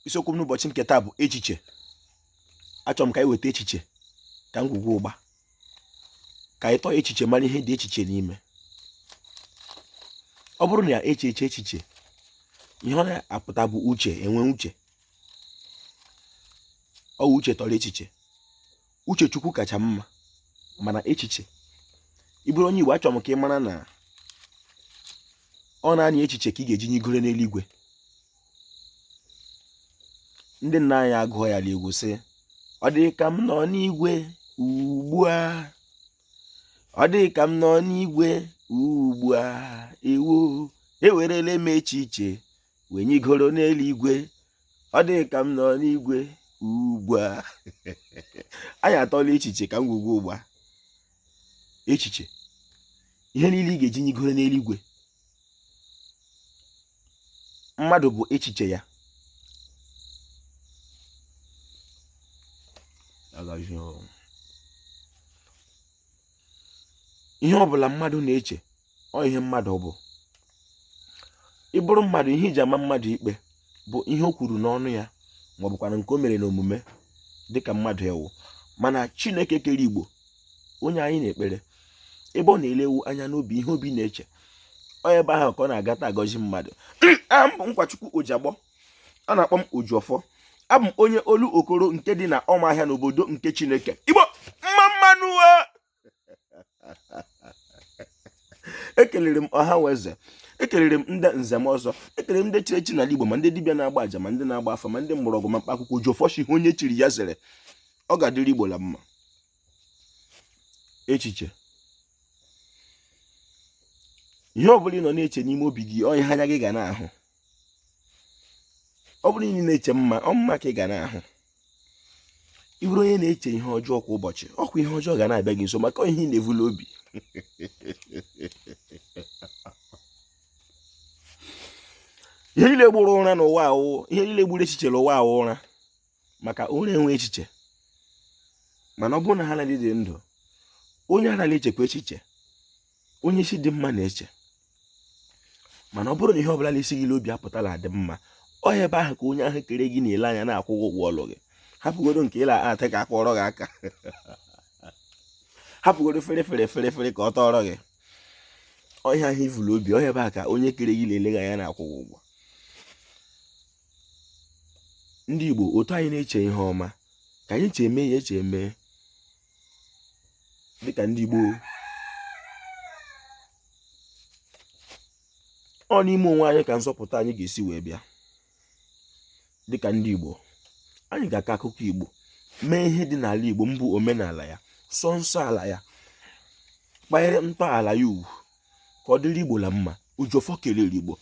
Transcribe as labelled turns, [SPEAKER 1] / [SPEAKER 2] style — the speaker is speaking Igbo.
[SPEAKER 1] isiokwu m n'ụbọchị nke taa bụ echiche achọrọ m ka anyị weta echiche ka ngwugwu ụgba ka anyị tọọ echiche mara ihe dị echiche n'ime ọ bụrụ na ya eche eche echiche ihe ọ na-apụta bụ uche enwe uche ọ uche tọrọ echiche uche chukwu kacha mma mana echiche ị bụrụ onye igbo achọrọ m ka ị mara na ọ naanị echiche ka ị ga-eji nyigoro n'eluigwe ndị nna anyị agụọ ya n'egwu sị ọ dị ka m nọ n'igwe ugbu a ọ dị ka m nọ n'igwe ugbu a ewo ewerele m echiche wee nyigoro n'eluigwe ọ dị ka m nọ n'igwe ugbu a anyị atọla echiche ka ngwugwu ụgba echiche ihe niile ị ga-eji nyigoro n'eluigwe mmadụ bụ echiche ya ihe ọ bụla mmadụ na-eche ọ ihe mmadụ bụ ị bụrụ mmadụ ihe e ji ama mmadụ ikpe bụ ihe o kwuru n'ọnụ ya ma ọ bụkwanụ nke o mere n'omume dịka mmadụ ị wụ mana chineke kere igbo onye anyị na-ekpere ebe ọ na-elewu anya n'obi ihe obi na-eche ọ ebe ahụ ka ọ na-agata agọzi mmadụ aha m bụ nkwachukwu ojiagbọ a na-akpọ m Ojiọfọ abụ m onye Olokoro nke dị na Ọmahịa n'obodo nke Chineke Igbo mma mma nụ ekelere m ọha na eze ekelere m ndị nze na ọzọ ekelere m ndị chiri echi n'ala Igbo ma ndị dibịa na-agba aja ma ndị na-agba afa ma ndị mgbọrọgwụ ma mkpa akwụkwọ Ojiọfọ sị ihe onye chiri ya zere ọ ga-adịrị Igbo la mma echiche ihe ọ bụla ị nọ na-eche n'ime obi gị ọ ihe anya gị ga na-ahụ ọ bụrụ na ị na-eche mma ọ mma ka ị ga na-ahụ ị bụrụ onye na-eche ihe ọjọọ kwa ụbọchị ọ kwa ihe ọjọọ ga na-abịa gị nso maka ọ ihe ị na-evu l'obi ihe niile gburu ụra n'ụwa a wụ ihe niile gburu echiche n'ụwa a wụ ụra maka ụra enwe echiche mana ọ bụrụ na ha na-adịdị ndụ onye ara na-echekwa echiche onye isi dị mma na-eche mana ọ bụrụ na ihe ọbụla na-esi gị n'obi apụta la-adị mma ọ ebe ahụ ka onye ahụ kere gị na-ele anya na-akwụ ụgwọ ọlụ gị hapụgodo nke ị la-ata ka a kụọrọ gị aka hapụgodo fere fere fere fere ka ọ tọọrọ gị ọ ihe ahụ i vu l'obi ọ ebe ahụ ka onye kere gị na-ele gị anya na-akwụ ụgwọ ndị Igbo otu anyị na-eche ihe ọma ka anyị cheme ya echeme dịka ndị Igbo ọ n'ime onwe anyị ka nzọpụta anyị ga-esi wee bịa dịka ndị Igbo anyị ga-akọ akụkọ Igbo mee ihe dị n'ala Igbo mbụ omenala ya sọ nsọ ala ya kpanyere ntọala ya ugwu ka ọ dịrị Igbo la mma Ojiọfọ kelere Igbo